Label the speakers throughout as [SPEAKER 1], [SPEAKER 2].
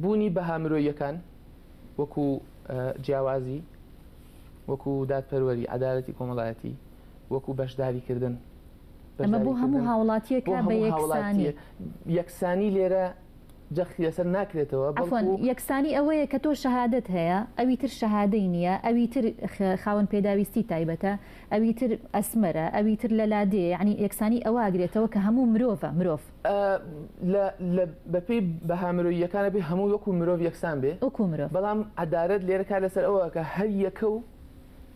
[SPEAKER 1] بوونی بەها مرۆییەکان وەکو جیاوازی، وەکو دادپەروەری، عەدالەتی کۆمەڵایەتی، وەکو بەشداریکردن، ئەمە
[SPEAKER 2] بۆ هەموو بەشداریکردن هاوڵاتیەک بۆ کا بە هەموو یەکسانی. هاوڵاتییەک،
[SPEAKER 1] یەکسانی لێرە جەختی لەسەر ناکرێتەوە، عەفوەن، بەڵکو. یەکسانی
[SPEAKER 2] ئەوەیە کە تۆ شەهادەت هەیە، ئەوی تر شەهادەی نییە، ئەوی تر خاوەن پێداویستی تایبەتە، ئەوی تر ئەسمەرە، ئەوی تر لەلادێیە، یەعنی یەکسانی ئەوە ئەگرێتەوە کە هەموو مرۆڤە، مرۆڤ.
[SPEAKER 1] بەپێی بەها مرۆییەکانە بێ هەموو وەکو مرۆڤ یەکسان بێ وەکو مرۆڤ بەڵام
[SPEAKER 2] عەدالەت
[SPEAKER 1] لێرە کار لەسەر ئەوە کە هەر یەکە و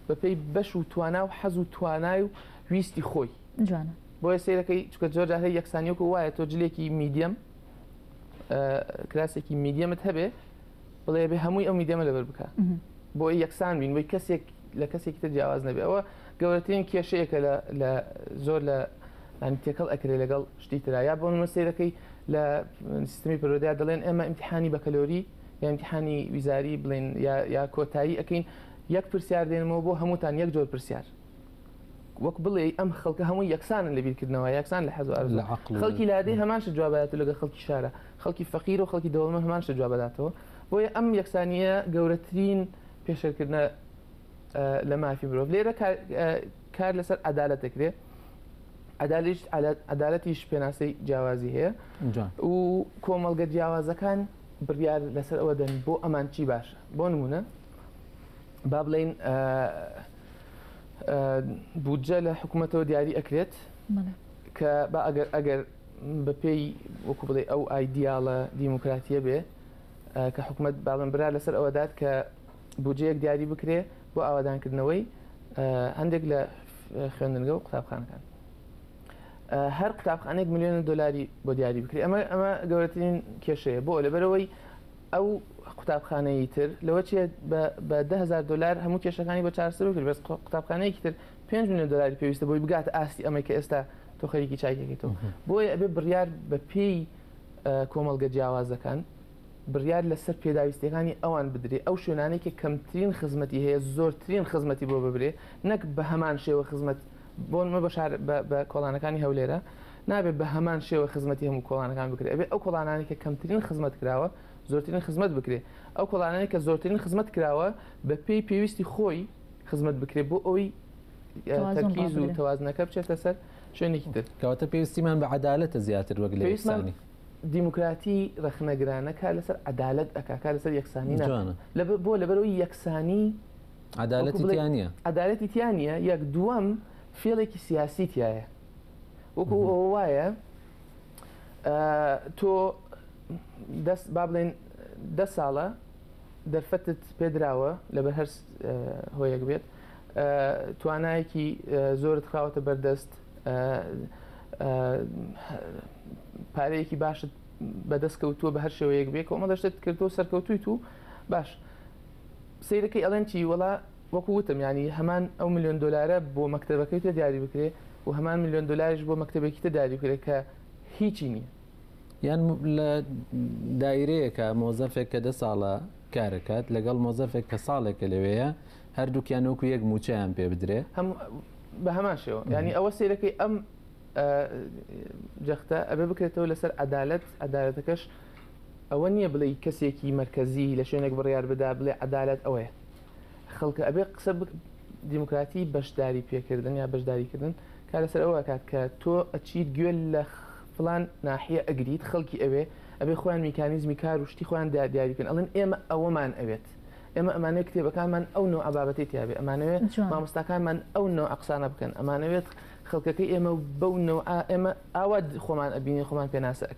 [SPEAKER 1] بەپێی بەش و توانا و حەز و توانای و ویستی خۆی جوانە بۆیە
[SPEAKER 2] سەیرەکەی
[SPEAKER 1] چکە جۆر جارهەیە یەکسانیۆک وایە تۆ جلێکی میدیەم کراسێکی میدیەمت هەبێ بڵێ بێ هەمووی ئەو میدەمە لەبەر بکە بۆ یەکسان بین بۆی کەسێک لە کەسێکی تر جیاواز نەبێ ئەوە گەورەترین کێشەیەکە لە زۆر لە ینی تێکەڵ ئەکرێ لەگەڵ شتی تررا یا بۆ منمە سیرەکەی لە سیستمی پرۆدیا دەڵێن ئێمە امتحانی بەکەلۆری یامتحانی ویزاری بڵین یا کۆتایی ئەەکەین یەک پرسیار دێنمەوە بۆ هەمووتان یەک جۆر پرسیار وەک بڵێ ئەم خەڵکە هەموو یەکسانن لە بیرکردنەوە یەکسان لە حەزار خەڵکی لادەی هەماش جوابات لەگە خەڵکی شارە خەڵکی فەقیر و خەڵکی دەوڵەمەند هەمان شتە جوابداتەوە بۆیە ئەم یەکسانیە گەورەترین پێشێلکردنە لە مافی مرۆڤ لێرە کار لەسەر عدالت دەکرێت عدالش عدالتیش پێناسەی جیاوازی هەیە و کۆمەڵگە جیاوازەکان بڕیار لەسەر ئەوە دەن بۆ ئەمان چی باشە بۆ نمونە با بڵین بودجە لە حکوومەتەوە دیاری ئەکرێت کە با ئەگەر ئەگەر بە پێی وەکو بڵێ ئەو ئایدیاڵە دیموکراتیە بێ کە حکومت باڵم برا لەسەر ئەوەدات کە بودجەیەک دیاری بکرێ بۆ ئاوادانکردنەوەی هەندێک لە خوێندنگە و قوتابخانەکان هەر قوتابخانێک میلیۆن دلاری بۆ دیاری بکرێت ئەمە ئەمە گەورەترین کێشەیە بۆ لەبەرەوەی ئەو قوتابخانەی تر لەوە چێ بە دههزار دلار هەموو کێشەکانی بە چارسەر کرد بەس قوتابخانەیەکی تر 5 میلیۆن دلاری پێویستە بۆی بگات ئاستی ئەمەی کە ئێستا تۆ خەریکی چاکێکیتەوە بۆیە ئەبێ بڕیار بە پێی کۆمەڵگە جیاوازەکان بڕیار لەسەر پێداویستەکانی ئەوان بدرێ ئەو شوێنانێک کە کەمترین خزمەتی هەیە زۆرترین خزمەتی بۆ ببرێ نەک بە هەمان شێوە خزمەت بۆن مە بەشار بە کۆڵانەکانی هەولێرە نابێت بە هەمان شێوە خزمەتی هەموو کۆڵانەکان بکرێت ئەبێ ئەو کۆڵانانی کە کەمترین خزمەت کراوە زۆرترین خزمەت بکرێ ئەو کۆڵانانی کە زۆرترین خزمەت کراوە بە پێی پێویستی خۆی خزمەت بکرێت بۆ ئەوی تەرکیز و تەوازنەکە بچێتە سەر شوێنێکی تر کەواتە پێویستیمان بە
[SPEAKER 3] عدالەتە زیاتر وەک لە یەکسانی دیموکراتی
[SPEAKER 1] ڕخنەگرانە کار لەسەر عدالت ئەکا کار لەسەر یەکسانی ناوانە لە بۆ لەبەرەوەی یەکسانی عدالەتی
[SPEAKER 3] تیانە عدالەتی تیانە
[SPEAKER 1] یەک دووەم فێڵێکی سیاسی تایە وەکو ئەوە وایە تۆ دەست با بڵێن دە ساڵە دەرفەتت پێدراوە لەبەر هەر هۆیەک بێت توانایەکی زۆرت خراوەتە بەردەست پارەیەکی باشت بەدەست کەوتووە بە هەر شێوەیەک بێ کۆمە دەشتت کردو سەرکەوتوی تو باش سیرەکەی ئەڵێن چی وڵا وەکو وتم ینی هەمان ئەو میلیۆن دلارە بۆ مەکتتەبەکەی تۆ دیاری بکرێ و هەمان میلیۆن دلاریش بۆ مەکتتەبێکی تە داری بکرێت کە هیچی نییە یان
[SPEAKER 3] لە دایرەیەکە مۆزەفێک کە دە ساڵە کارەکات لەگەڵ مۆزەفێک کە ساڵێکە لەوەیە هەردووکیان وەکو یەک مووچەیان پێ بدرێ. هەم بە هەمان
[SPEAKER 1] شێوە یانی ئەوە سەیرەکەی ئەم جەختە ئەبێ بکرێتەوە لەسەر عەدالەت عەدالەتەکەش ئەوە نییە بڵێ کەسێکی مەرکەزی لە شوێنێک بڕیار بدا بڵێ عەدالەت ئەوەیە خەڵکە ئەبێ قسە دیموکراتی بەشداری پێکردن یا بەشداریکردن کار لەسەر ئەوە کات کە تۆ ئەچیت گوێ لە فلان ناحیە ئەگریت خەڵکی ئەوێ ئەبێ خۆیان میکانیزمی کار و شتی خۆیان دیاریکن ئەڵێن ئێمە ئەوەمان ئەوێت ئێمە ئەمانەوێ کتێبەکانمان ئەو نۆعە بابەتەی تیابێ ئەمانەوێ مامۆستاکانمان ئەو نۆعە قسانە بکەن ئەمانەوێت خەڵکەکەی ئێمە بەو نۆعە ئێمە ئاوا خۆمان ئەبینین خۆمان پێناسە ئەکەین